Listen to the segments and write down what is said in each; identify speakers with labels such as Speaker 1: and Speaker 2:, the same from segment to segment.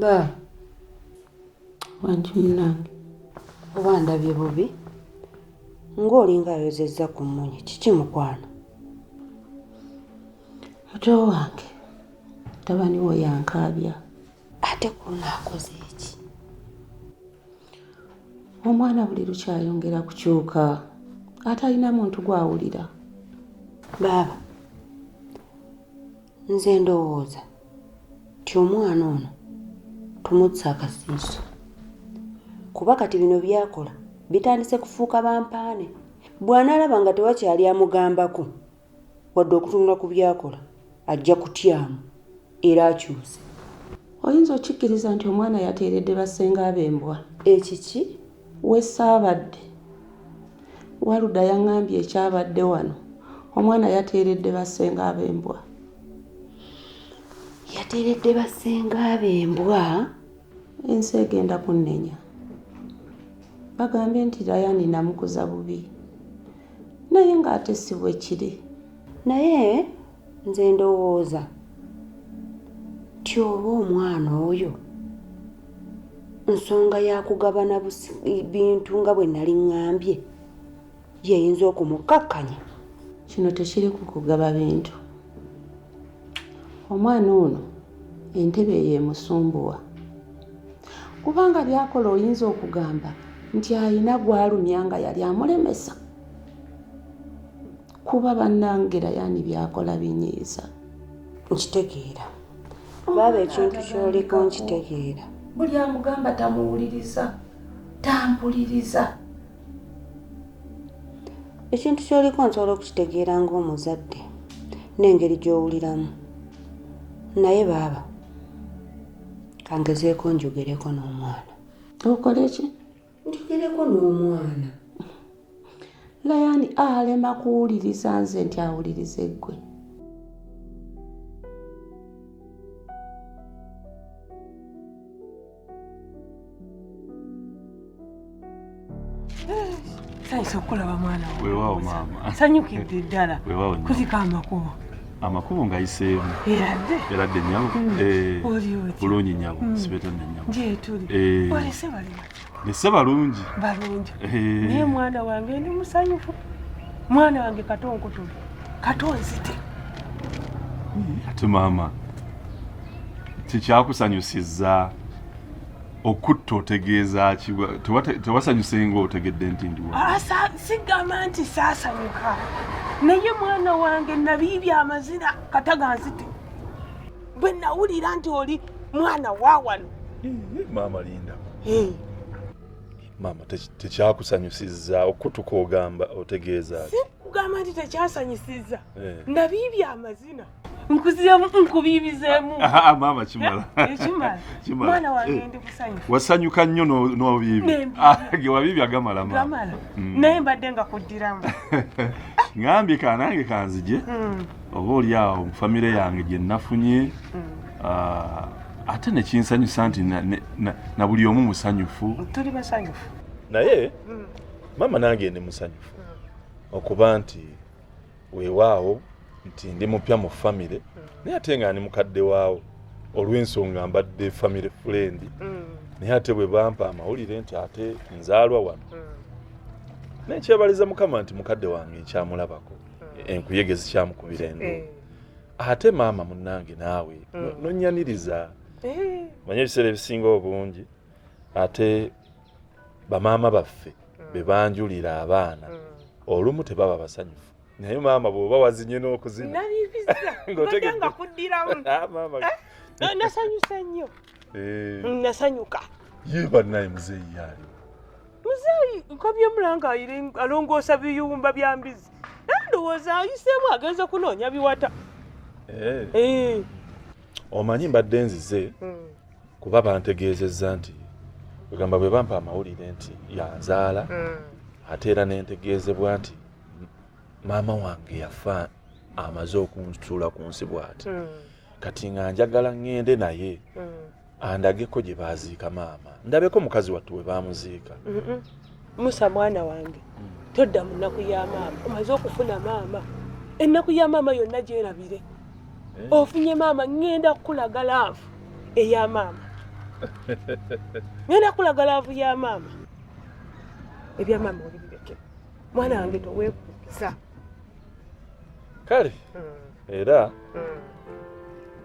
Speaker 1: ba wangi munange oba ndabye bubi ng'olinga ayozezza ku mmunye kiki mukwano muto wange tabani wo yankaabya ate kuno akoze eki omwana buli lukyayongera kukyuka atalina muntu gwawulira baaba nze ndowooza nti omwana ono tumutsa akasiiso kuba kati bino byakola bitandise kufuuka bampaane bw'anaalaba nga tewakyali amugambako wadde okutunula ku byakola ajja kutyamu era akyuse oyinza okikkiriza nti omwana yateeredde bassenga ab'embwa ekiki wesaabadde waluda yaŋambye ekyabadde wano omwana yateeredde bassenga ab'embwa yateeredde bassenga ab'embwa ensi egenda kunnenya bagambye nti rayani namukuza bubi naye ng'ate si bwe kiri naye nze ndowooza nti oba omwana oyo nsonga ya kugabana bintu nga bwe nali ŋŋambye yeyinza okumukkakkanya kino tekiri ku kugaba bintu omwana ono entebe eyo emusumbuwa kubanga byakola oyinza okugamba nti alina gwalumya nga yali amulemesa kuba banangera yani byakola binyiiza nkitegeera baaba ekintu kyoliko nkitegeera buli amugamba tamuwuliriza tampuliriza ekintu kyoliko nsobola okukitegeera ng'omuzadde n'engeri gy'owuliramu naye baaba kangezeeko njogereko n'omwana okole ki njogereko n'omwana layani alema kuwuliriza nze nti awuliriza eggwe
Speaker 2: Sanyusa okukulaba mwana wange. Weewaawo maama.
Speaker 3: Sanyukidde ddala.
Speaker 2: Weewaawo nnyo. Kuzika
Speaker 3: amakubo.
Speaker 2: Amakubo
Speaker 3: ngayiseemu. Eradde. Eradde nnyabo. Mm. Eh, Oli otya? Bulungi nnyabo. Mm. Sibeeta nne nnyabo. Gyetuli. Eh.
Speaker 2: Olese bali batya? Nesse balungi.
Speaker 3: Balungi.
Speaker 2: Eh. Naye mwana wange ndi musanyufu. Mwana wange kato nkutule. Kato nzite.
Speaker 3: Ate maama. tekyakusanyusizza okutta otegeeza ki tewasanyuse nga otegedde nti ndiwa ah, sigamba nti
Speaker 2: saasanyuka naye mwana wange nabiibya amazina kataganzite bwe nawulira nti oli mwana wa wano maama
Speaker 3: linda eh. maama tekyakusanyusizza okutuka ogamba otegeeza ki sikugamba nti
Speaker 2: tekyasanyusizza eh. nabiibya amazina nkuzemu nkubiibizemu ah, ah, ah, maama
Speaker 3: kimala eh, eh, kimala
Speaker 2: mwana wange eh. ndi kusanyuka wasanyuka nnyo
Speaker 3: n'obiibi ge wabiibi agamala gamala mm. naye
Speaker 2: mbadde nga kuddiramu
Speaker 3: ngambye ka nange kanzije mm. oba oli awo mu famire yange gye nnafunye mm. ate nekinsanyusa nti na buli omu musanyufu tuli basanyufu
Speaker 2: naye
Speaker 3: maama nange ndi musanyufu okuba nti weewaawo nti ndi mupya mu famire mm. naye ate nga ndi mukadde waawo olw'ensonga mbadde famire fulendi mm. naye ate bwe bampa amawulire nti ate nzaalwa wano mm. naye kyebaliza mukama nti mukadde wange nkyamulabako enkuyege zikyamukubira endo eh. ate maama munnange naawe nonyaniriza eh. manye ebiseera ebisinga obungi ate bamaama baffe mm. be banjulira abaana mm. olumu tebaba basanyufu naye maama bwoba wazinye n'okuzina ngotegedde
Speaker 2: kuddiramu ah, maama eh? Eh, nasanyusa nnyo eh. mm, nasanyuka ye
Speaker 3: bannaye muzeeyi yaaliwo muzeeyi
Speaker 2: nkabye mulanga alongoosa biyumba bya mbizi nandowooza ayiseemu agenze kunoonya biwata eh.
Speaker 3: omanyi mbadde nzize hmm. kuba bantegeezezza nti egamba bwe bampa amawulire nti yanzaala mm. ate era nentegeezebwa nti maama wange yafa amaze okunsuula ku nsi bwati mm. kati nga njagala ŋŋende naye mm. andageko gye baaziika maama ndabeko mukazi wattu we baamuziika musa
Speaker 2: mwana wange todda mu nnaku ya maama omaze okufuna maama ennaku ya maama yonna gyerabire eh? ofunye maama ŋŋenda kukulaga laavu eya maama ŋŋenda kukulaga laavu ya maama ebya maama olibireke mwana wange toweekuukiza
Speaker 3: kale hmm. era hmm.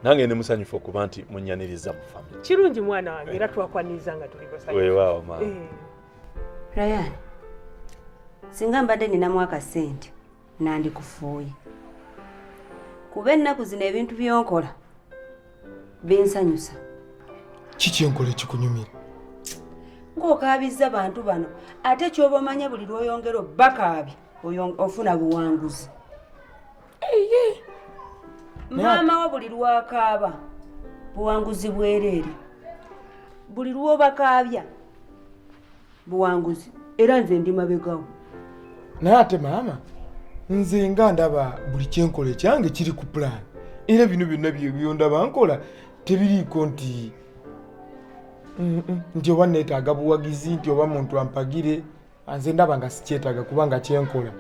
Speaker 3: nange ndi musanyufu okuba nti munyaniriza mu famiry kirungi mwana wange era
Speaker 2: twakwaniriza nga tuli basanyufu weewaawo maama eh.
Speaker 1: Ryan, singa mbadde ninamu akasente nandikufuuye kuba ennaku zino ebintu byonkola binsanyusa
Speaker 4: kikyenkola ekikunyumira
Speaker 1: ng'okaabizza bantu bano ate kyoba omanya buli lwoyongera obbakaabi ofuna buwanguzi maama wo buli lwakaaba buwanguzi bwereere buli lwobakaabya buwanguzi era nze ndi mabegawo naye
Speaker 4: ate maama nze nga ndaba buli kyenkola ekyange kiri ku pulaani era bino byonna byondaba nkola tebiriiko nti nti oba neetaaga buwagizi nti oba muntu ampagire anze ndaba nga sikyetaaga kubanga kyenkola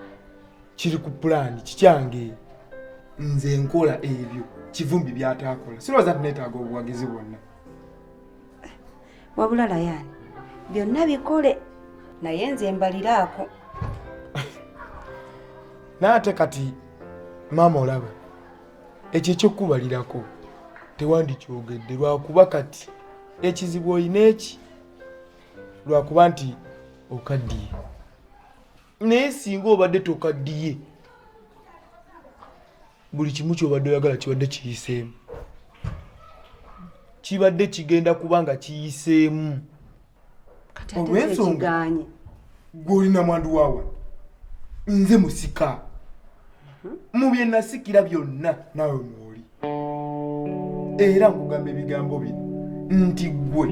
Speaker 4: kiri ku pulaani kikyange nze nkola ebyo kivumbi byataakola sirowooza nti neetaaga obuwagizi bwonna
Speaker 1: wabula layani byonna bikole naye nze mbaliraako
Speaker 4: naate kati maama olaba ekyo ekyokubalirako tewandikyogedde lwakuba kati ekizibu olina eki lwakuba nti okaddiye naye singa obadde tokaddiye buli kimu kyobadde oyagala kibadde kiyiseemu kibadde kigenda kuba nga kiyiseemu olwensonga gwolina mwandu waawa nze musika mhm. mu byenasikira byonna naawe mwoli era nkugamba ebigambo bino nti gwe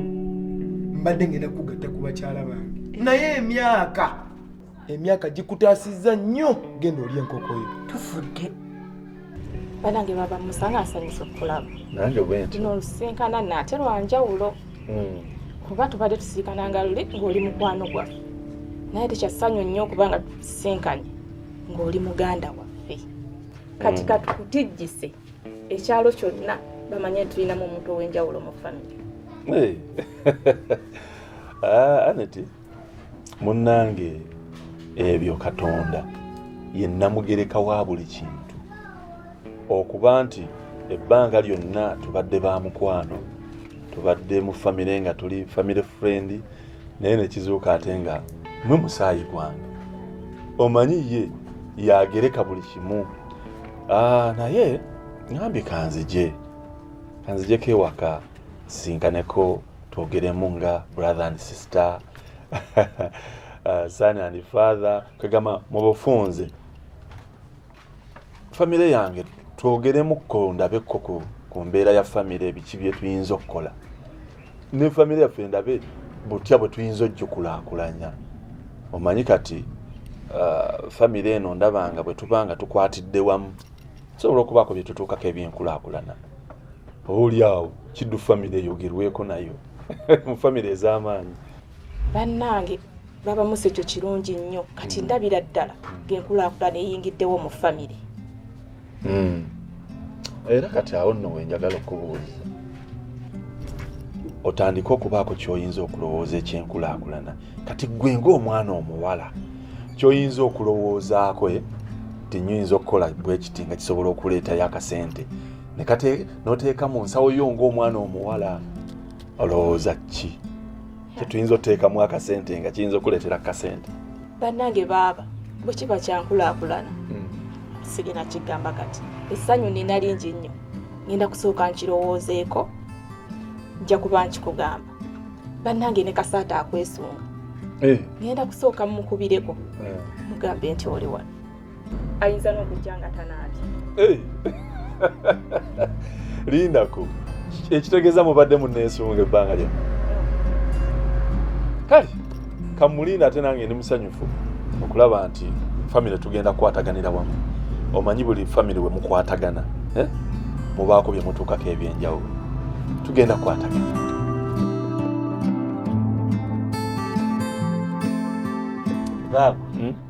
Speaker 4: mbadde ngenda kugatta ku bakyala bange naye emyaka emyaka gikutaasizza nnyo genda oli enkokoyo tufudde
Speaker 5: banange baba musanga asanyusa okulaba nange bwenti no
Speaker 3: lusinkana
Speaker 5: naate lwanjawulo hmm. kuba tubadde tusinkana nga luli ng'oli mukwano gwaffe naye tekyassanyu nnyo okuba nga tusinkanye ng'oli muganda waffe kati mm. katukutijjise ekyalo kyonna bamanye tulinamu omuntu ow'enjawulo mu famire
Speaker 3: ah, aneti munnange ebyo katonda ye namugereka wa buli kintu okuba nti ebbanga lyonna tubadde ba mukwano tubadde mu famire nga tuli famire furendi naye nekizuuka ate nga mwe musaayi gwange omanyi ye yagereka buli kimu ah, naye ngambye kanzije kanzijeko ewaka sinkaneko twogeremu nga brother and sister ah, son and father kwegamba mu bufunze famire yange twogeremukko ndabekko ku mbeera ya famire ebiki byetuyinza okukola ne famire yaffe ndabe butya bwe tuyinza ojjukulakulanya omanyi kati uh, famire eno ndabanga bwe tubanga tukwatidde wamu sobola okubaako bye tutuukako ebyenkulakulana oba oli awo kiddu famire eyogerweko nayo mu famire ez'amaanyi bannange
Speaker 5: baba musekyo kirungi nnyo kati mm. ndabira ddala ngenkulaakulana eyingiddewo mu famire mm.
Speaker 3: era kati awo nno wenjagala okubuuliza otandike okubaako kyoyinza okulowooza ekyenkulaakulana kati gwe ngaomwana omuwala kyoyinza okulowoozaako eh, tinyinza okukola bwekiti nga kisobola okuleetayo akasente noteeka mu nsawo yo ngaomwana omuwala olowooza ki kyetuyinza oteekamu akasente nga kiyinza okuleetera kasente bannange
Speaker 5: baaba bwe kiba kyankulaakulana hmm. sigina kigamba kati essanyu nina lingi nnyo ngenda kusooka nkirowoozeeko nja kuba nkikugamba bannange ne kasaata akwesunga eh. ngenda kusooka mumukubireko eh. mugambe nti oli wano ayinza n'okujja nga tanaabye eh.
Speaker 3: lindako ekitegeeza mubadde muneesunga ebbanga lya kale kamulinda ate nange ndi musanyufu okulaba nti famire tugenda kukwataganira wamu omanyi buli famire we mukwatagana eh? mubaako bye mutuukako ebyenjawulo tugenda kukwatagana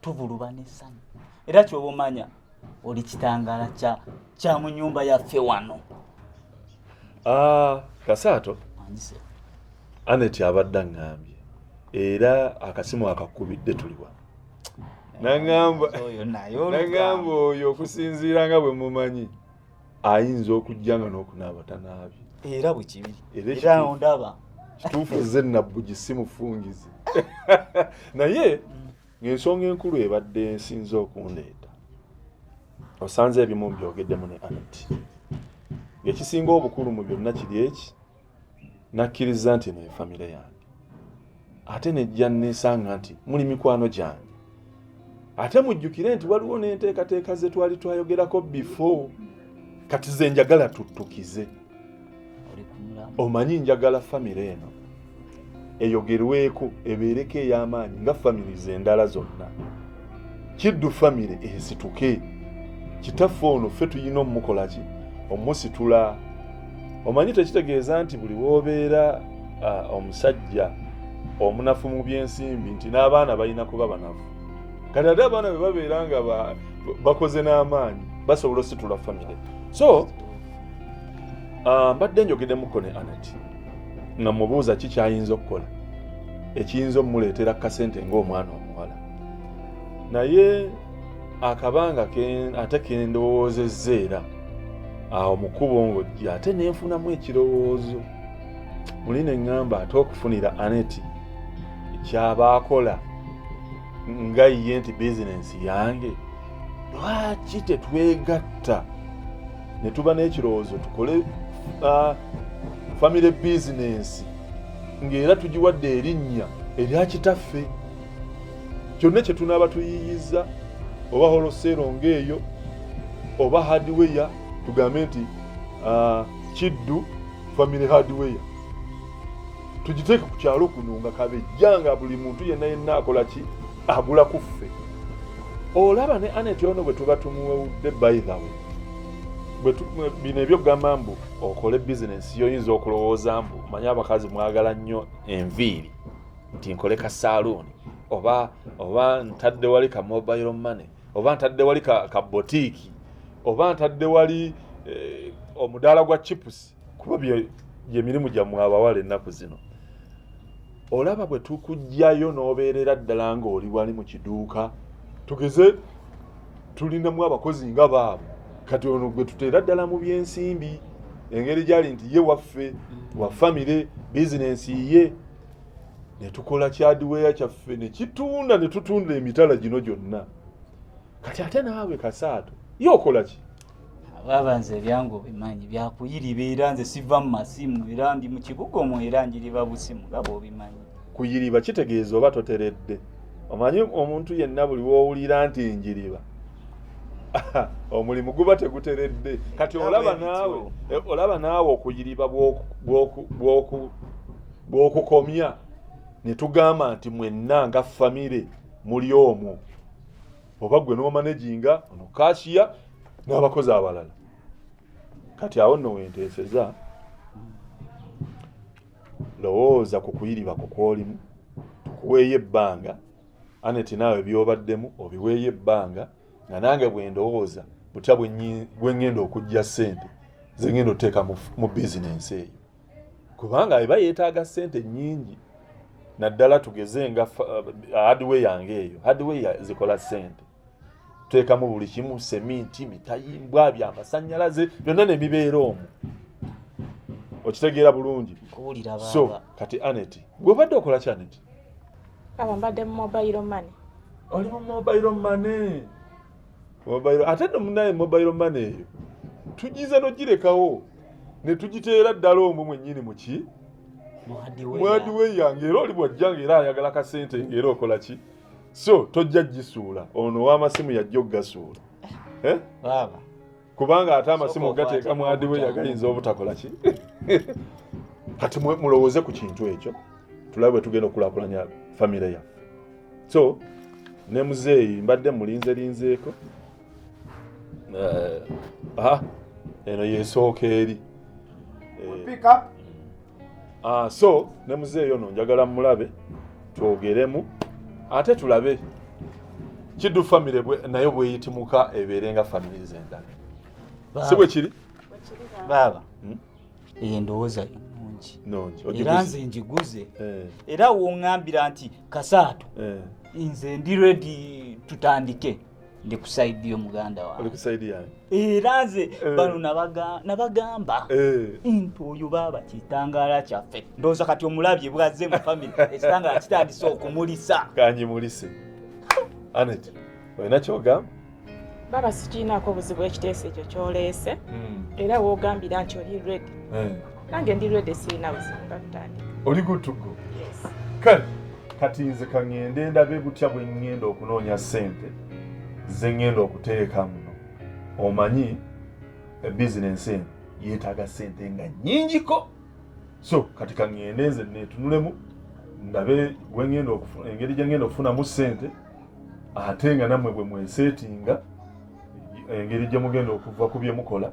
Speaker 6: tuvuluba n'essanyu era kyoba omanya oli kitangaala kya kya mu nyumba yaffe wano ah,
Speaker 3: kasaato aneti abadde aŋŋambye era akasimu akakubidde tuliwa naŋamba oyo okusinziira nga bwe mumanyi ayinza okujja nga n'okunaaba tanaabye era bwe kibi
Speaker 6: era ondaba kituufu ze
Speaker 3: nabbugi si mufungizi naye ng'ensonga enkulu ebadde ensinza okundeeta osanze ebimu mbyogeddemu ne anati ng'ekisinga obukulu mu byonna kiri eki nakkiriza nti eno efamire yange ate nejja nesanga nti muli mikwano gyange ate mujjukire nti waliwo n'enteekateeka ze twali twayogerako before kati ze njagala tuttukize omanyi njagala famire eno eyogerweko ebeereko ey'amaanyi nga families endala zonna kiddu famire esituke kitaffe ono ffe tulina omumukola ki omusitula omanyi tekitegeeza nti buli woobeera omusajja omunafu mu byensimbi nti n'abaana balina kuba banafu kati ate abaana bwe babeera nga bakoze n'amaanyi basobola ositula famire so ah, mbadde njogedemuko ne anati nga mubuuza ki kyayinza okukola ekiyinza omuleetera ku kasente ng'omwana omuwala naye akabanga ate kendowoozezza era awo mukubo ng'ojji ate nenfunamu ekirowoozo muli ne ŋŋamba ate okufunira aneti kyaba akola nga ye nti bizinensi yange lwaki tetwegatta ne tuba n'ekirowoozo tukole uh, famire bizinensi ng'era tugiwadde erinnya erya kitaffe kyonna kye tunaaba tuyiiyizza oba holoseero ng'eyo oba hadiweya tugambe nti uh, kiddu famire hadiweya tugiteeke ku kyalo kuno nga kabejja nga buli muntu yenna yenna akola ki agula ku ffe olaba ne anet ono bwe tuba tumuwewudde baithawe bino ebyokugamba mbu okole bizinesi yoyinza okulowooza mbu manye abakazi mwagala nnyo enviiri nti nkole ka saaluuni oba oba ntadde wali ka mobile money oba ntadde wali ka botiiki oba ntadde wali eh, omudaala gwa chipusi kuba gyemirimu gyammwe abawala ennaku zino olaba bwe tukugyayo n'obeerera ddala ng'oli wali mu kiduuka tugeze tulinamu abakozi nga baabo kati ono gwe tuteera ddala mu byensimbi engeri gyali nti ye waffe wa famire bizinensi ye netukola kyadiweya kyaffe nekitunda netutunda emitala gino gyonna kati ate naawe kasaato ye okola ki baba nze
Speaker 6: ebyange obimanyi byakuyiriba era nze siva mu masimu era ndi mu kibuga omwo era njiriba busimu nga bwobimanyi kuyiriba kitegeeza
Speaker 3: oba toteredde omanyi omuntu yenna buli wowulira nti njiriba omulimu guba teguteredde kati olaba naawe e, olaba naawe okuyiriba bwokukomya netugamba nti mwenna nga famire muli omwo oba gwe n'omanaginga ono kashiya n'abakozi abalala kati awo nno wenteeseza lowooza ku kuyiriba ku kwolimu tukuweeyo ebbanga aneti naawe byobaddemu obiweeyo ebbanga nga nange bwendowooza butya bweŋŋenda okujja ssente zengenda oteeka mu bizinensi eyo kubanga eba yeetaaga ssente nnyingi naddala tugeze nga uh, hardware yange eyo hardware zikola ssente tuteekamu buli kimu seminti mitayimbwa byamasanyalaze byonna nemibeera omu okitegeera bulungi so kati anet gwobadde okola ki anet aba
Speaker 5: mbadde mu mobile money oli mu
Speaker 3: mobile money ate no munaye mobile money eyo tugize nogirekawo netugiteera ddala omwo mwenyini muki mwadiwe yange era oli bwajja nga era ayagala kasente nga era okola ki so tojja gisuula ono wamasimu yajja okugasuula eh?
Speaker 6: kubanga
Speaker 3: ate amasimu gateeka mwadiwe yagayinza obutakola ki kati mulowooze ku kintu ekyo tulabe bwe tugenda okulakulanya famire yaffe so ne muzeeyi mbadde mulinze linzeeko eh, eno yesooka eri eh, Uh, so ne muzeeyo no njagala mulabe twogeremu ate tulabe kiddu famire nayo bweyitimuka ebeere nga famire zendala si bwe kiri baaba
Speaker 6: hmm? eyo endowooza nungi era nze njiguze eh. era woŋambira nti kasaatu eh. nze ndi redi tutandike ndi ku side yo muganda wange oli ku side yange era nze eh. bano nabagamba eh. nti oyo baaba kitangala kyaffe ndowooza kati omulabye bwazze mu family ekitangala kitandise okumulisa kanyimulise
Speaker 3: anet olina kyogamba baba
Speaker 5: sikiinaako obuzibu ekiteeso ekyo kyoleese hmm. era woogambira nti oli redi eh. nange ndi ready sirina buzibu kakutandika oli good to go
Speaker 3: yes kale kati nze kaŋŋende ndabe butya bwe ŋŋenda okunoonya ssente ze ŋŋenda okuteeka muno omanyi eh, bizinensi eno yeetaaga ssente nga nnyingiko so kati kaŋŋende nze neetunulemu ndabe wengenda engeri gyengenda okufunamu ssente ate nga nammwe bwe mweseetinga engeri gye mugenda okuva ku bye mukola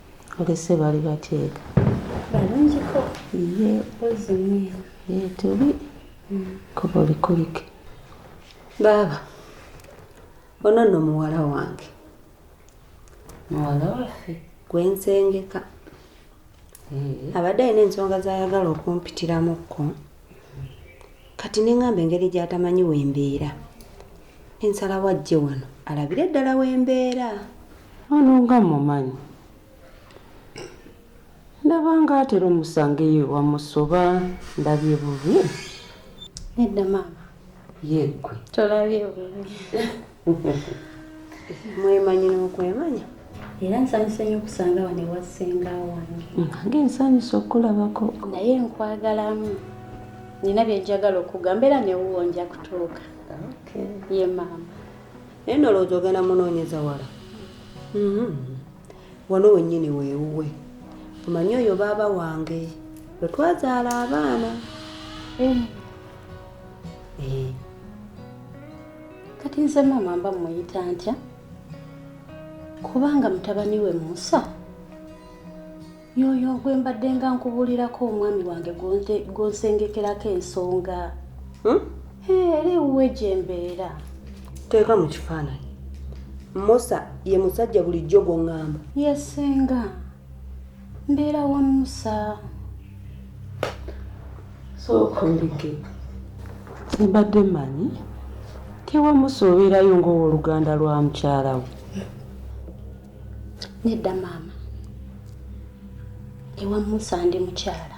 Speaker 1: Olese bali bateeka. Balunjiko.
Speaker 7: Ye. Ozi mwe. Ye tuli.
Speaker 1: Mm. Kubo likulike. Baba. Ono no muwala wange.
Speaker 7: Muwala wafe. Gwe nsengeka.
Speaker 1: Abadde alina ensonga z'ayagala okumpitiramu kko. kati neŋŋamba engeri gy'atamanyi we mbeera ensalawo ajje wano alabire ddala we mbeera ono nga mumanyi ndaba nga atera omusangeyo wamusoba ndabye bubi
Speaker 7: nedda maama yeggwe
Speaker 1: tolabye
Speaker 7: bubi
Speaker 1: mwemanyi n'okwemanya era nsanyuse
Speaker 7: nyo okusanga wano ewa ssenga wange nange nsanyuse
Speaker 1: okukulabako naye nkwagalamu
Speaker 7: nina byenjagala okugamba era newuwo nja kutuuka ye maama naye nolowooza
Speaker 1: ogenda munoonyeza wala mm-hmm. wano wennyini weewuwe omanyi oyo baaba wange lwe twazaala abaana eh. Eh.
Speaker 7: kati nze maama mba muyita ntya kubanga mutabani we musa yoyo gwe mbadde nga nkubulirako omwami wange gwonsengekerako ensonga hmm? era ewuwe gye mbeera teeka mu
Speaker 1: kifaananyi musa ye musajja bulijjo gwoŋŋamba yesenga
Speaker 7: Mbeera wa Musa.
Speaker 1: Sookolege. Mbadde manyi tewa Musa obeerayo ng'owoluganda lwa mukyala we.
Speaker 7: Nedda maama. Ewa Musa ndi mukyala.